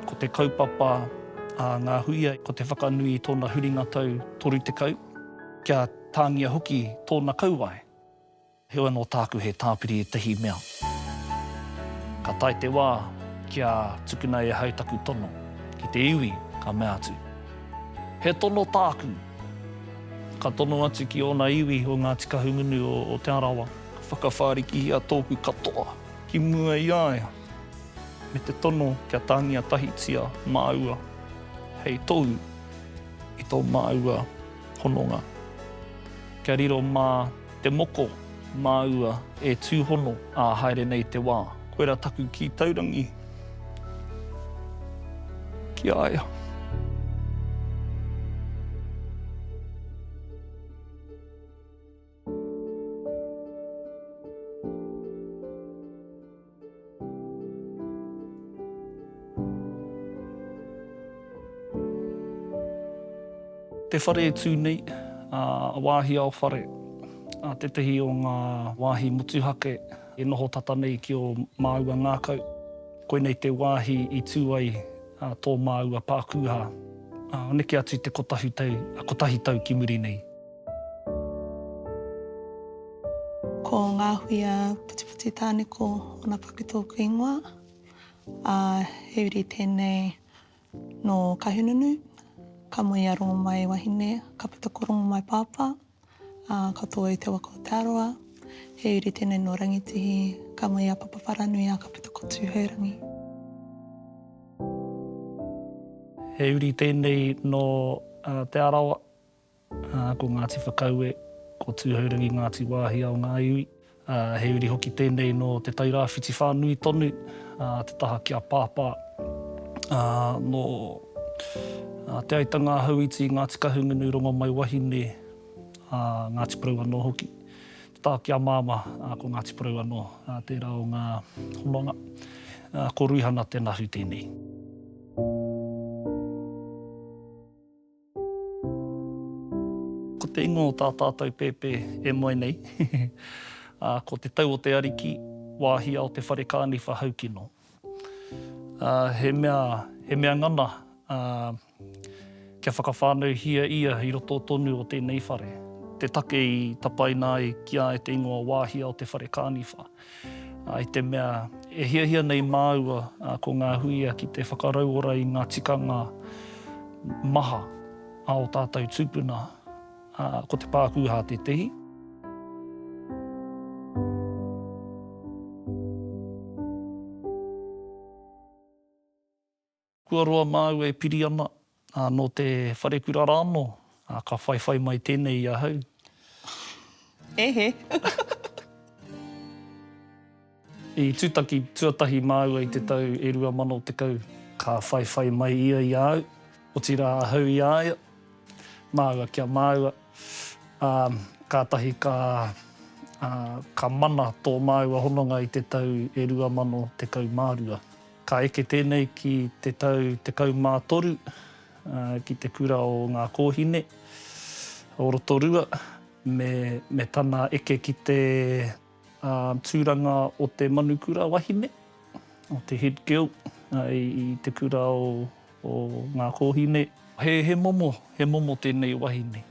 Ko te kaupapa a ngā huia, ko te whakanui i tōna huringa tau 30, kia tāngia hoki tōna kauae. Heoi anō tāku he tāpiri ētahi mea. Ka tae te wā kia tukuna e ahau taku tono ki te iwi, ka mea atu, He tono tāku! Ka tono atu ki ōna iwi o Ngāti Kahungunu o Te Arawa. Ka whakawhārikihia tōku katoa. Ki mua i a ia, me te tono kia tāngia tahitia māua hei tohu i tō māua hononga. Kia riro mā te moko māua e tūhono ā haere nei te wā. Koirā taku kī taurangi ki a ia. Te whare e tū nei, a Wāhi Ao Whare, a tētehi o ngā wāhi motuhake e noho tata nei ki ō māua ngākau. Koinei te wāhi i tū ai tō māua pākūhā, neke atu i te kotahi tau ki muri nei. Ko Ngahuia Putiputi Tāneko ōna paku tōku ingoa, ā, he uri tēnei nō Kahununu, ka moe i a Rongomai wahine, ka puta ko Rongomai pāpā, ā, ka tō i te waka o Te Arawa. He uri tēnei nō Rangitihi, ka moe i a Papawharanui, ā, ka puta ko Tūhourangi. He uri tēnei nō Te Arawa, Ko Ngāti Whakaue, ko Tūhourangi Ngāti Wāhia o ngā iwi. He uri hoki tēnei nō Te Tairāwhiti whānui tonu, te taha ki a Pāpā. Nō Te Aitanga-a-Hauiti, Ngāti Kahungunu, Rongomaiwahine, Ngāti Porou anō hoki. Te taha ki a Māmā, ko Ngāti Porou anō, tērā o ngā hononga. Ko Ruihana Te Nahu tēnei. Ko te ingoa o tā tātou pēpē e moe nei, ko Te Tau o te Ariki, Wāhi Ao Te Whare Kāni Whahaukino. He mea, he mea ngana kia whakawhānauhia ia i roto tonu o tēnei whare, te take i tapaina ai ki a e te ingoa Wāhi Ao Te Whare Kāni Whahaukino. I te mea, e hiahia nei māua ko ngā huia ki te whakarauora i ngā tikanga maha a o tātou tūpuna, ko te pākūhā tētehi. Kua roa māu e piri ana, ā, nō te wharekura rā anō, ā, ka whaiwhai mai tēnei i ahau. Hehe. I tūtaki tuatahi māua i te tau e rua mano tekau. Ka whaiwhai mai ia i a au, otirā ahau i a ia, māua ki a māua, ā, kātahi ka, ā, ka mana tō māua hononga i te tau e rua mano tekau mā rua. Ka eke tēnei ki te tau 13 ki te kura o Ngā Kōhine o Rotorua me tana eke ki te tūranga o te manukura wahine, o te head girl i te kura o Ngā Kōhine. He momo, he momo tēnei wahine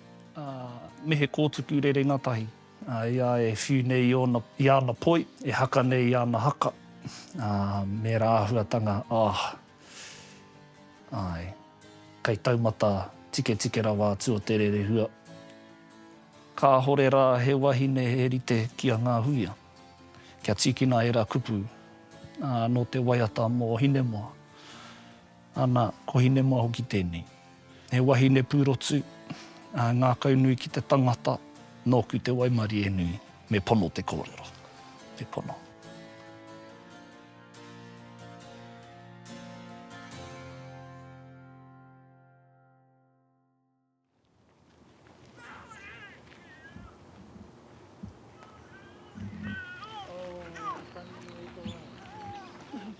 me he kōtuku rerenga tahi. I a e whiu nei i ona, i ana poi, e haka nei i ana haka, ā, mēra āhuatanga, ah. Āe, kei taumata tiketike rawa atu o te rerehua. Kāhore rā he wahine he rite ki a Ngā Huia, kia tīkina ērā kupu, ā, nō te waiata mō Hinemoa. Ana, ko Hinemoa hoki tēnei. He wahine pūrotu, ā, ngākau nui ki te tangata, nōku te waimarie nui. Me pono te kōrero. Me pono.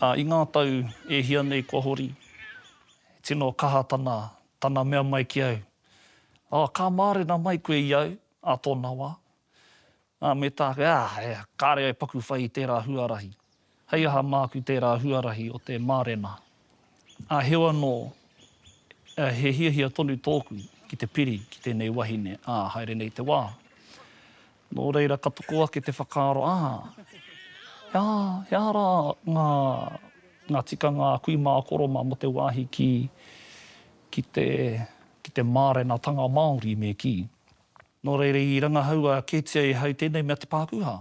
Ā, i ngā tau e hia nei kua hori, he tino kaha tana, tana mea mai ki au, Ā, ka mārena mai koe i au, ā tōna wā. Nā, me tāke, ā, he kāre e paku whai i tērā huarahi. Hei aha māku tērā huarahi o te mārena? Ā, heo anō, he hiahia tonu tōku ki te piri ki tēnei wahine, ā, haere nei te wā. Nō reira, ka toko ake te whakaaro, ā, he aha, he aha rā ngā, ngā tikanga a kui mā a koro mā mō te wāhi ki, ki te, ki te mārenatanga Māori me kī? Nō reira i rangahaua kētia e hau tēnei mea te pākūhā.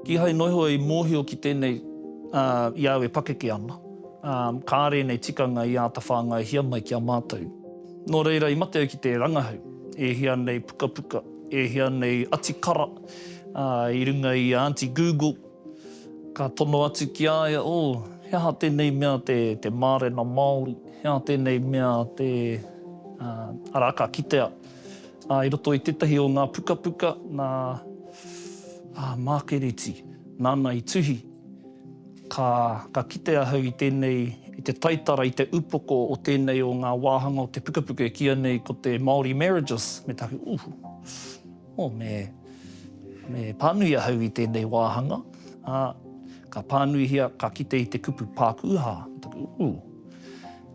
Kīhai noa iho i mōhio ki tēnei i a au e pakeke ana, ā, kāre ēnei tikanga i āta whāngaihia mai ki a mātou. Nō reira i mate au ki te rangahau e hia nei pukapuka, e hia nei atikara i runga i a Aunty Google, Ka tono atu ki a ia, Oh, he aha tēnei mea te, te mārena Māori? He aha tēnei mea te, uh, arā, ka kitea, uh, i roto i tētahi o ngā pukapuka nā, ā, Mākereti, nāna i tuhi. Ka, ka kite ahau i tēnei, i te taitara, i te upoko o tēnei o ngā wāhanga o te pukapuka e kīia nei ko te Māori Marriages, me te aha, Ooh, Oh, me, me pānui ahau i tēnei wāhanga, ā, ka pānuihia, ka kite i te kupu pākūhā. Ooh,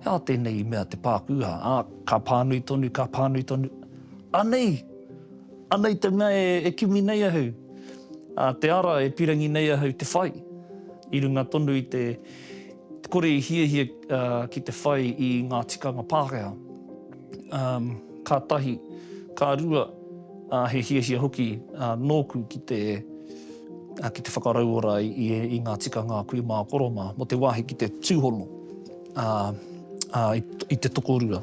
he aha tēnei i mea te pākūhā? Ā, ka pānui tonu, ka pānui tonu, anei, anei te mea e, e kimi nei ahau, ā, te ara e pirangi nei ahau te whai, i runga tonu i te, te kore i hiahia, ā, ki te whai i ngā tikanga Pākehā. ka tahi, ka rua, he hiahia hoki nōku ki te whakarauora i ngā tikanga a kui mā koro mā, mō te wāhi ki te tūhono i te tokorua.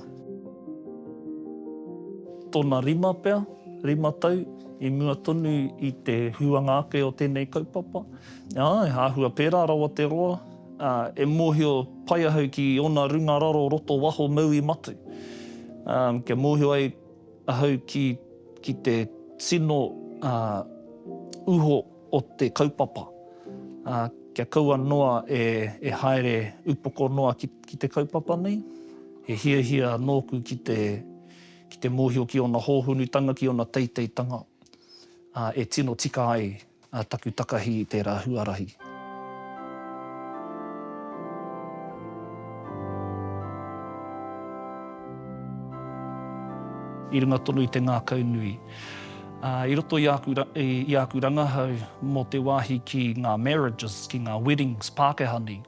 Tōna rima pea, rima tau, i mua tonu i te huanga ake o tēnei kaupapa, āe, āhua pērā rawa te roa, Ā, e mōhio pai ahau ki ōna runga raro roto waho maui matu, ā, kia mōhio ai ahau ki, ki te tino, ā, uho o te kaupapa, ā, kia kaua noa e, e haere upoko noa ki, ki te kaupapa nei. He hiahia nōku ki te, ki te mōhio ki ōna hōhunutanga, ki ōna teiteitanga, ā, e tino tika ai. ā taku takahi i tērā huarahi. I runga tonu i te ngākau nui. Ā, i roto i āku, i āku rangahau mō te wāhi ki ngā marriages, ki ngā weddings Pākehā nei,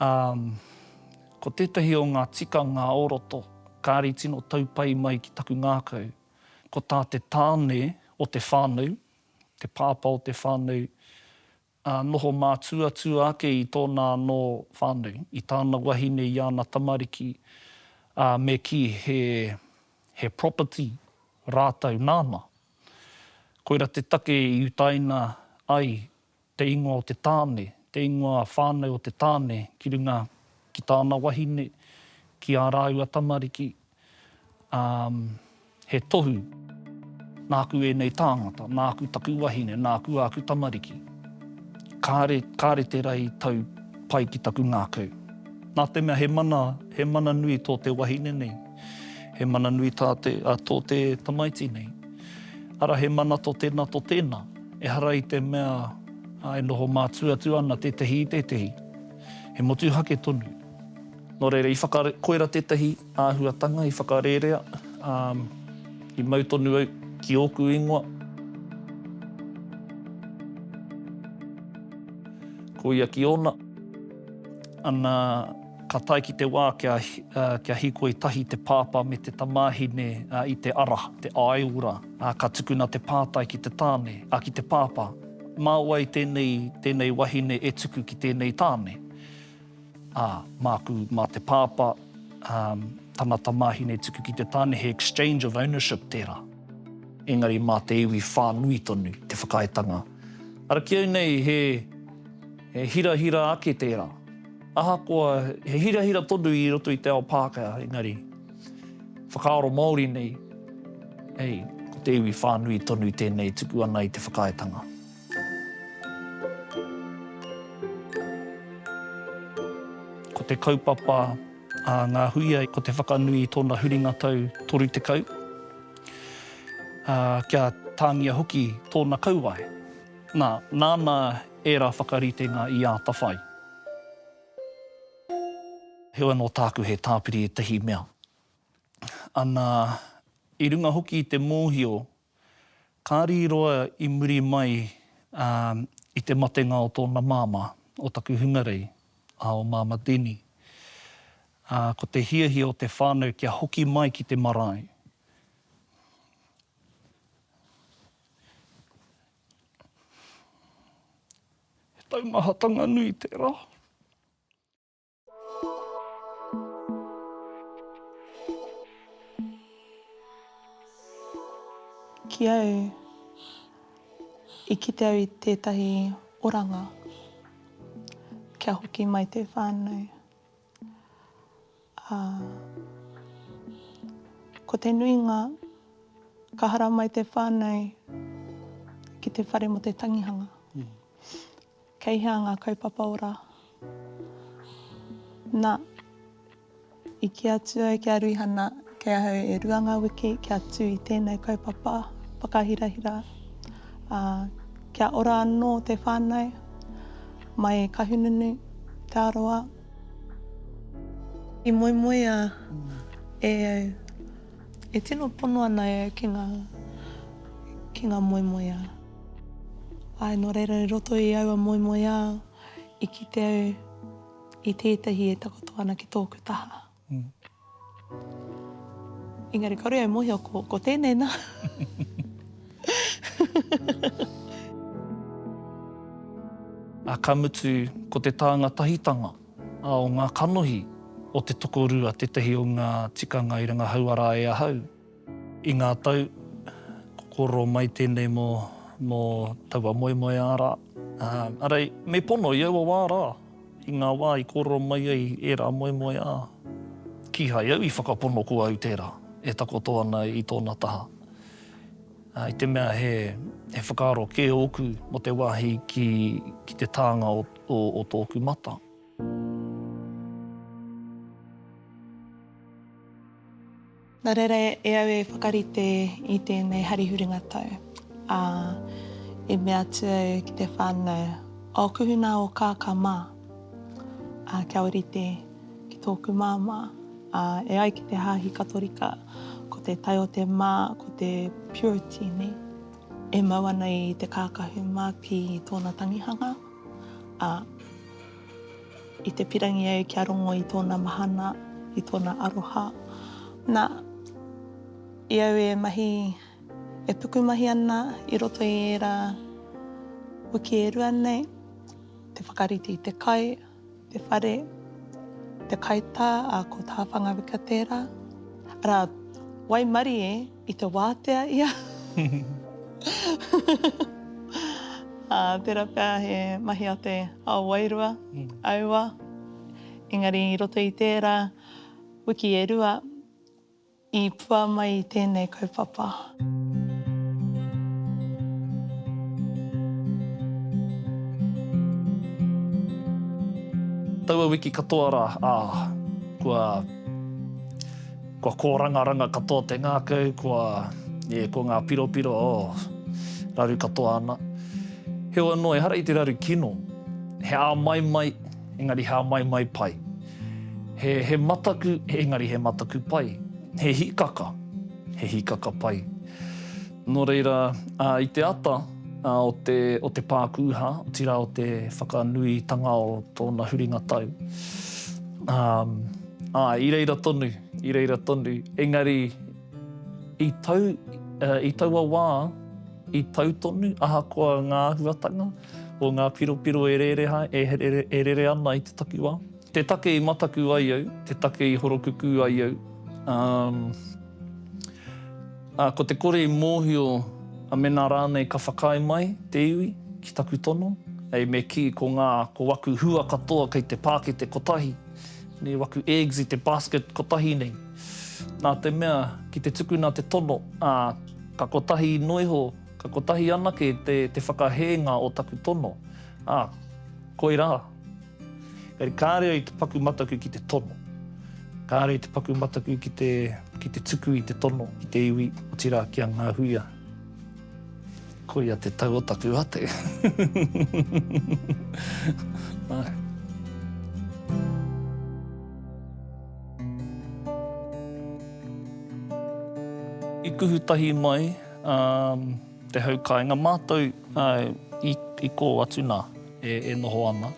ā, ko tētahi o ngā tikanga o roto, kāri tino tau pai mai ki taku ngākau, ko tā te tāne o te whānau te pāpā o te whānau, ā, noho mātuatua ake i tōna anō whānau, i tāna wahine, i āna tamariki, ā, me kī he, he property rātou nāna. Koira te take i utaina ai te ingoa o te tāne, te ingoa whānau o te tāne ki runga ki tāna wahine, ki ā rāua tamariki, ā, he tohu, nāku ēnei tāngata, nāku taku wahine, nāku āku tamariki. Kāre, kāre tērā i tau pai ki taku ngākau. Nā te mea he mana, he mana nui tō te wahine nei. He mana nui tā te, a, tō te tamaiti nei. Ara he mana tō tēnā, tō tēnā. Ehara i te mea, a, e noho mātū atu ana tētehi i tētehi. He motuhake tonu. Nō reira, i whaka, koira tētehi āhuatanga i whakarērea, ā, i mau tonu au ki ōku ingoa. Ko ia ki ōna. Ana. Ka tae ki te wā kia hīkoi tahi te pāpā me te tamāhine i te ara, te āiora, ā, ka tukuna te pātai ki te tāne, ā, ki te pāpā, Mā wai tēnei, tēnei wahine e tuku ki tēnei tāne? Ā, māku, mā te pāpā, ā, tana tamāhine e tuku ki te tāne, he exchange of ownership tērā. Engari mā te iwi whānui tonu te whakaaetanga. Ara ki au nei he. He hirahira ake tērā. Ahakoa he hirahira tonu i roto i te ao Pākehā, engari, whakaaro Māori nei, hei, ko te iwi whānui tonu tēnei e tuku ana i te whakaaetanga. Ko te kaupapa a ngā huia, ko te whakanui i tōna huringa tau 30, ā, kia tāngia hoki tōna kauae. Nā, nāna Ērā whakaritenga i atawhai. Heoi anō tāku he tāpiri ētahi mea. Ana, i runga hoki i te mōhio, ka rīroa i muri mai i te matenga o tōna māmā, o taku hungarei, a o Māmā Denny. Ā, ko te hiahia o te whānau kia hoki mai ki te marae. He taumahatanga nui tērā. Ki au, i kite au i tētahi oranga kia hoki mai te whānau. Ā, ko te nuinga, ka haramai te whānau ki te whare mō te tangihanga. Kei hea ngā kaupapa ora? Na, i kī atu au ki a Ruihana, Kei ahau e rua ngā wiki kia tū i tēnei kaupapa whakahirahira, ā, kia ora anō te whānau mai i Kahungunu, Te Arawa. I moemoea e au, e tino pono ana e au ki ngā, ki ngā moemoeā. Āe, nō reira i roto i aua moemoeā, i kite au i tētahi e takoto ana ki tōku taha. Engari kore au mohio ko ko tenei na. A ka mutu ko te tānga tahitanga a o ngā kanohi o te tokorua tetahi o ngā tikanga i rangahau ara e ahau. I ngā tau, kōrero mai tēnei mō mō taua moemoeā rā. Arā, me pono i aua wā rā, i ngā wā i kōrero mai ai ērā moemoeā, kīhai au i whakapono ko au tērā e takoto ana i tōna taha. I te mea he whakaaro kē ōku mō te wāhi ki ki te tānga o tōku mata. Nā reira e au e whakarite i tēnei hari huringa tau, ā, i mea atu au ki te whānau, O kuhu nā o kākā mā, ā, kia ōrite ki tōku māmā, ā, e ai ki te Hāhi Katorika, ko te tae o te mā, ko te purity nei, e mau ana i te kākahu mākī i tōna tangihanga, ā, I te pirangi au kia rongo i tōna mahana, i tōna aroha. Na, i au e mahi, e pukumahi ana i roto i ērā wiki e rua nei, te whakarite i te kai, te whare, te kaitā, ā, ko Tāwhangawika tērā. Arā, waimarie. I te wātea ia. Ā, tērā pea he mahi a te ao wairua, aua, engari i roto i tērā wiki e rua, i pua mai tēnei kaupapa. Taua wiki katoa rā, ā, kua. Kua kōrangaranga katoa te ngākau, kua, e, ko ngā piropiro, oh, raru katoa ana. Heoi anō, ehara i te raru kino. He āmaimai, engari he āmaimai pai. He, he mataku, engari he mataku pai. He hīkaka, he hīkaka pai. Nō reira, ā, i te ata, ā, o te, o te pākūhā, otirā o te whakanuitanga o tōna huringa tau, ā, Ā, i reira tonu, i reira tonu, engari i tau, i taua wā, i tau tonu, ahakoa ngā āhuatanga o ngā piropiro e rere, e rere ana i te takiwā. Te take i mataku ai au, te take i horokukū ai au, ā, ā, ko te kore i mōhio a mēnā rānei ka whakaae mai te iwi ki taku tono, hei me kī ko ngā, ko aku hua katoa kei te pākete kotahi, Nei waku eggs i te basket kotahi nei. Nā te mea, ki te tukuna te tono, ā, ka kotahi noa iho, ka kotahi anake te, te whakahēnga o taku tono, ā, koirā. Engari kāre au i te paku mataku ki te tono. Kāre au i te paku mataku ki te, ki te tuku i te tono ki te iwi, otirā ki a Ngāhuia. Koia te tau o taku ate. Ae. I kuhu tahi mai te hau kainga matou i ko atu na e noho ana.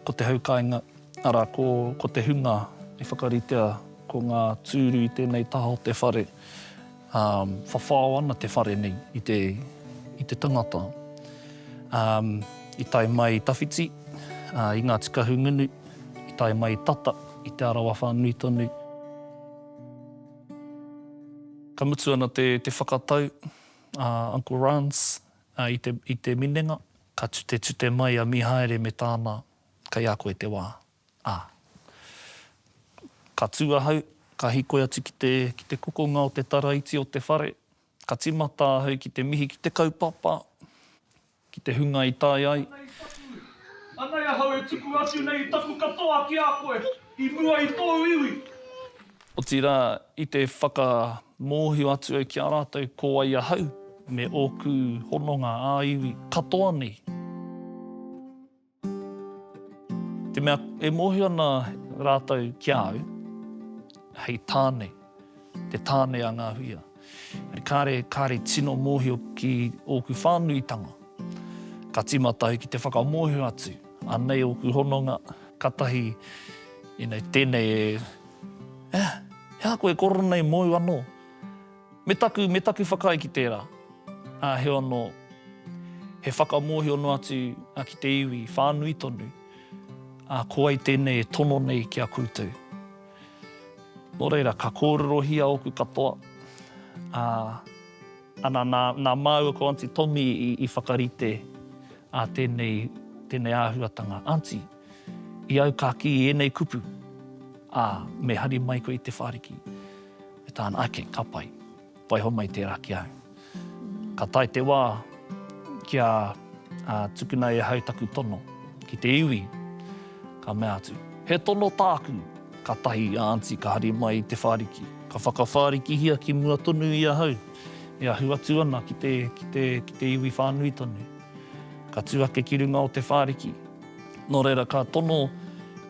Ko te hau kainga ara ko te hunga i whakaritea ko nga tūru i tenei taha o te whare. Um, whawhao ana te whare nei i te, i te tangata. Um, i tae mai i tawhiti, uh, i Ngāti Kahungunu, i tae mai i tata, i Te Arawa whānui tonu. Ka mutu ana te, te whakatau a uh, Uncle Rance uh, i, te, i te minenga, ka tute tute mai a Mihaere me tāna, kei a koe te wā. Ā. Ka tū ahau, ka hikoi atu ki te, ki te kokonga o te taraiti o te whare, ka tīmata ahau ki te mihi ki te kaupapa, ki te hunga i tae ai. Anei taku, anei ahau e tuku atu nei i taku katoa ki a koe, i mua i tōu iwi. Otirā, i te whakamōhio atu au ki a rātou ko wai ahau, me ōku hononga ā-iwi katoa nei. Te mea e mōhio ana rātou ki a au, hei tāne, te tāne a ngā huia. Kāre, kāre tino mōhio ki ōku whānuitanga. Ka tīmata au ki te whakamōhio atu, anei ōku hononga, katahi, you know, tēnei e, eh, he aha koe e korona i mōu anō? Me taku, me taku whakaae ki tērā, ā, heoi anō, he whakamōhio noa atu ki te iwi whānui tonu, ā, ko wai tēnei e tono nei ki a koutou. Nō reira, ka kōrerohia ōku katoa, ā, ana nā, nā māua ko Aunty Tommy i, i whakarite, ā, tēnei, tēnei āhuatanga. Aunty, i au ka kī i ēnei kupu, ā, me hari mai koe i Te Whāriki. E tāna, ake, ka pai. Waiho mai tērā ki ahau. Ka tae te wā kia tukuna e ahau taku tono ki te iwi, ka mea atu, He tono tāku! Ka tahi a Anti ka hari mai i te whāriki. Ka whakawhārikihia ki mua tonu i ahau, e ahu atu ana ki te iwi whānui tonu. Ka tū ake ki runga o te whāriki. Nō reira, ka tono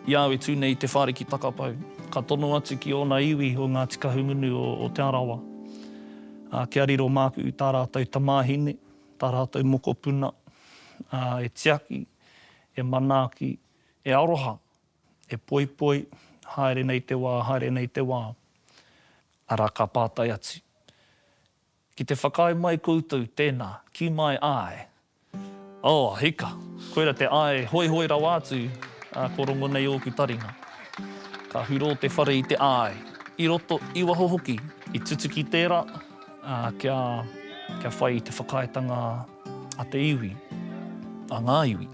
i a au e tū nei i Te Whāriki Takapau, ka tono atu ki ōna iwi o Ngāti Kahungunu o Te Arawa, ā, kia riro māku i tā rātou tamāhine, tā rātou mokopuna, ā, e tiaki, e manaaki, e aroha, e poipoi, haere nei te wā, haere nei te wā. Arā, ka pātai atu, Ki te whakaae mai koutou tēnā, ki my eye. Oh, hika! Koira te eye hoihoi rawa atu, ā, ko rongo nei ōku taringa. Ka hurō te whare i te eye, i roto, i waho hoki, i tutuki tērā, ā, kia, kia whai i te whakaaetanga a te iwi, a ngā iwi.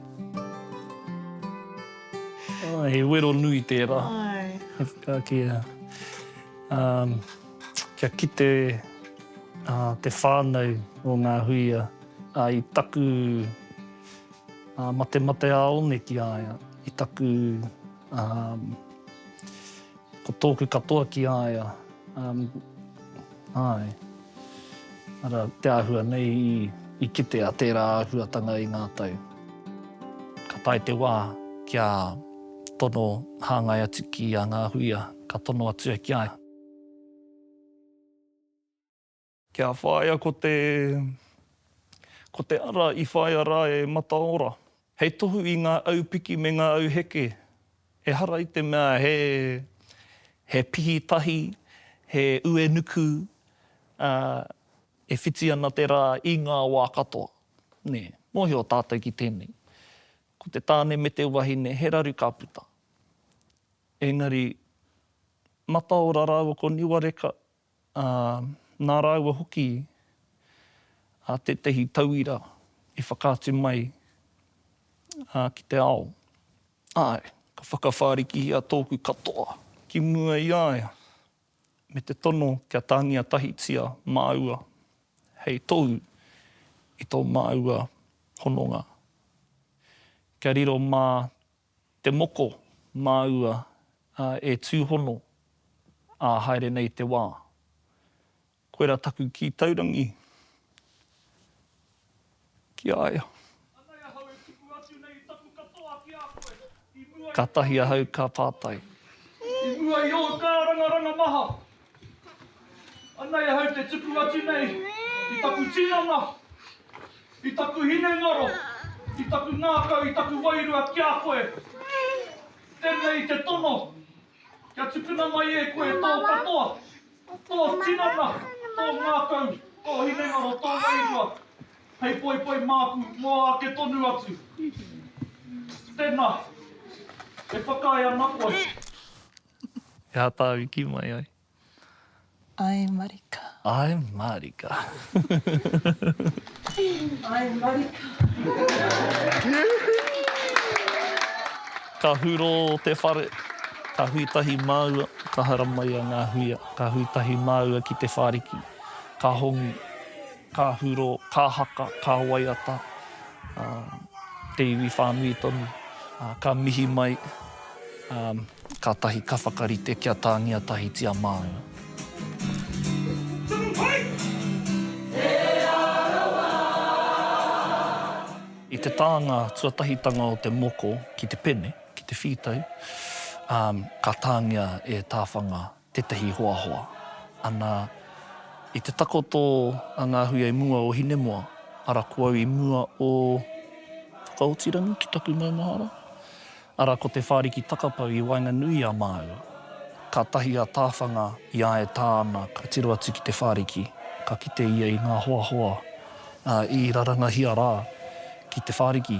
He wero nui tērā. Āe. He whakaakea. Ā. Kia kite te whānau o ngā huia i taku matemate ā-one ki a ia, i taku ko tōku katoa ki a ia, āe. Arā te āhua nei i kitea tērā āhuatanga i ngā tau. Ka tae te wā kia tono hāngai atu ki a ngā huia, ka tono atu au ki a ia. Kia whāia ko te ko te ara i whāia rā e Mataora. Hei tohu i ngā au piki me ngā au heke, ehara i te mea he he pihi tahi, he uenuku, ā, e whiti ana te rā i ngā wā katoa. Nē, mōhio tātou ki tēnei. Ko te tāne me te wahine, he raru ka puta. Engari, mataora rāua ko Niwareka, ā, nā rāua hoki ā tētehi tauira i whakaatu mai ā ki te ao. Āe, ka whakawhārikihia tōku katoa ki mua i a ia, me te tono kia tāngia tahitia māua hei tohu i tō māua hononga, kia riro mā Te moko māua e tūhono ā haere nei te wā. Koira taku kī taurangi ki a ia. Anei ahau e tuku atu nei taku katoa ki a koe, i mua i. Kātahi ahau ka pātai. I mua i ōu kārangaranga maha. Anei ahau te tuku atu nei i taku tinana, i taku hinengaro, i taku ngākau, i taku wairua ki a koe. Tenei te tono, kia tukuna mai e koe tō katoa, tō tinana, tō ngākau, tō hinengaro, tō wairua, hei poipoi māku mō āke tonu atu. Tena, e whakaae ana koe. He aha tāu i kī mai ai? Ae marika. Ae marika. Ae marika. Ka huro te whare, ka hui tahi māua, ka haramaia ngā huia, ka hui tahi māua ki te whāriki, ka hongi, ka huro, ka haka, ka waiata te iwi whānui tonu, ka mihi mai. Kātahi ka whakarite kia tāngia tahitia māua. I te tānga tuatahitanga o te moko ki te pene, ki te whītau, ka tāngia e Tāwhanga. tētahi hoahoa, ana, i te takoto a ngā hui i mua o Hinemoa, ara ko au i mua o Whakaotirangi ki taku maumahara, ara ko Te Whāriki Takapau i waenganui i a māua. Kātahi a Tāwhanga i āe tā ana ka tiro atu ki Te Whāriki, ka kite ia i ngā hoahoa, ā, i rarangahia rā ki Te Whāriki.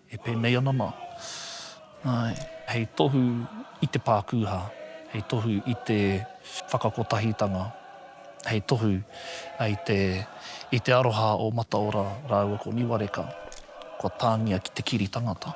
E pēnei ana mā. Āe, hei tohu i te pākūhā, hei tohu i te whakakotahitanga, hei tohu i te aroha o Mataora rāua ko Niwareka, kua tāngia ki te kiri tangata.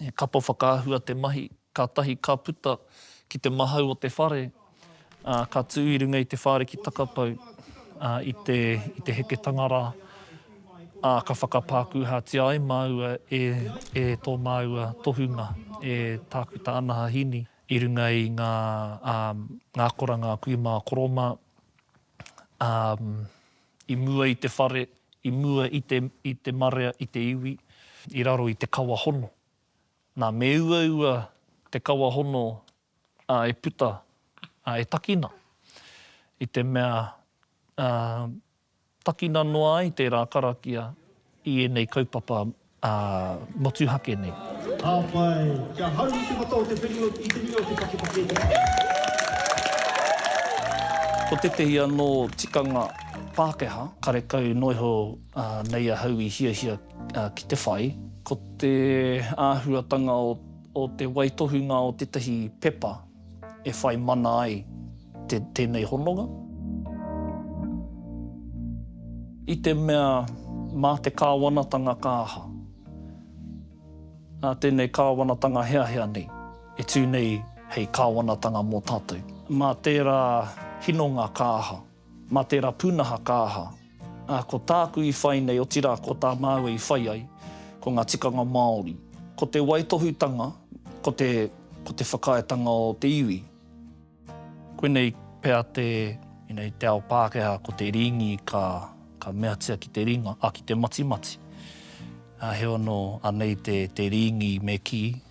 He kapa whakaahua te mahi, kātahi ka puta ki te mahau o te whare, ā, ka tū i runga i te whāre ki Takapau, ā, i te, i te heketanga rā, ā, ka whakapākūhātia ai māua e, e tō māua tohunga, e Tākuta Anaha Hini, i runga i ngā, ā, ngā akoranga a kui mā a koro mā, ā, I mua i te whare, i mua i te, i te marea, i te iwi, i raro i te kawa hono. Nā, me uaua te kawa hono, ā, e puta, ā, e takina, i te mea, ā, takina noa ai tērā karakia i ēnei kaupapa Ā, motuhake nei. Ka pai! Kia haumi te mata o te whenua i te nuinga o te pakepakē te whakaaro. Ko tētehi anō tikanga Pākehā, karekau noa iho nei ahau i hiahia ki te whai, ko te āhuatanga o te waitohunga o tētahi pepa. e whai mana ai tēnei hononga. I te mea mā te kāwanatanga ka aha? Nā tēnei kāwanatanga heahea nei e tū nei hei kāwanatanga mō tātou. Mā tērā hinonga ka aha? Ma tera punaha ka aha? A, ko tāku i whai nei otira ko tā māua i whai ai, ko nga tikanga Māori. Ko te waitohutanga, ko te, ko te whakaaetanga o te iwi. Koinei pea te, inei te ao Pākeha ko te Ringi ka, ka meatia ki te ringa, a, ki te matimati. A, heoi ano, anei te, te Ringi me ki.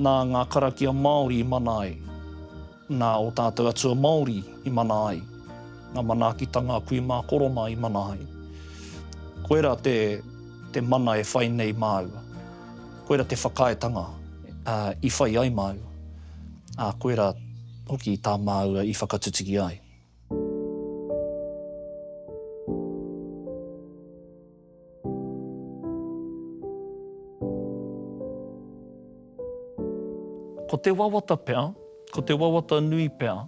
Nā ngā karakia Māori i mana ai, nā ō tātou atua Māori i mana ai, ngā manaakitanga a kui mā korona i mana ai. Koira te, te mana e whai nei māua. Koira te whakaaetanga i whai ai māua. Ā, koira hoki tā māua i whakatutuki ai. Ko te wawata pea, ko te wawata nui pea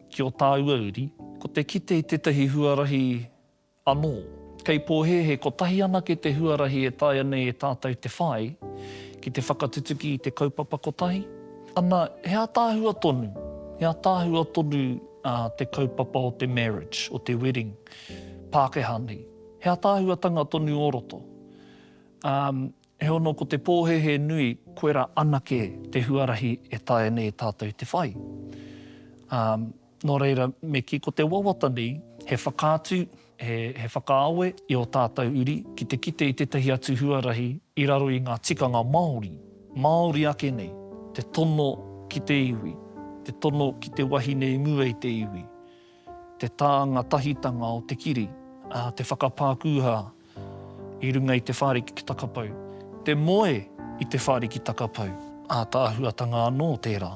ki o tāua uri, ko te kite i tētahi huarahi Anō. Kei pōhēhē kotahi anake te huarahi e taea nei e tātou te whai ki te whakatutuki i te kaupapa kotahi, ana, he ātaahua tonu, he ātaahua tonu te kaupapa o te marriage, o te wedding, Pākehā nei. He ātaahuatanga tonu o roto. Heono ko te pōhēhē nui koera anake te huarahi e taea nei e tātou te whai. Ā, nō reira me kī ko te wawata nei he whakaatu, he, he whakaawe i ō tātou uri ki te kite i tētahi atu huarahi i raro i ngā tikanga Māori, Māori ake nei, te tono ki te iwi, te tono ki te wahine i mua i te iwi, te tānga tahitanga o te kiri, ā, te whakapākūhā I runga i te whāriki ki Takapau. Te moe i te whāriki Takapau. Ātaahuatanga anō tērā.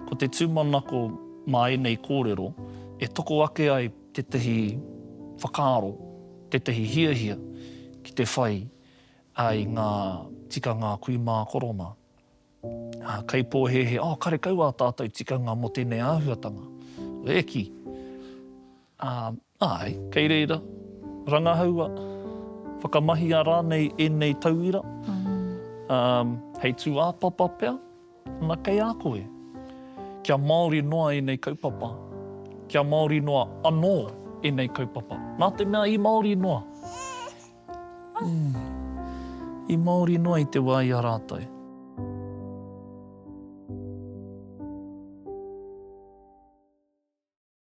Ko te tūmanako mā ēnei kōrero, e toko ake ai tētahi whakaaro, tētahi hiahia ki te whai i ngā tikanga kui mā korona. Kaipōhēhē, oh, karekau ā tātou tikanga mō tēnei āhuatanga. E ki! Ā. Āe, kei reira, rangahaua, whakamahia rānei ēnei tauira, ā, hei tūāpapa pea, ana kei a koe. Kia Māori noa ēnei kaupapa, kia Māori noa anō ēnei kaupapa. Nā te mea i Māori noa, ū, i Māori noa i te wā i a rātou.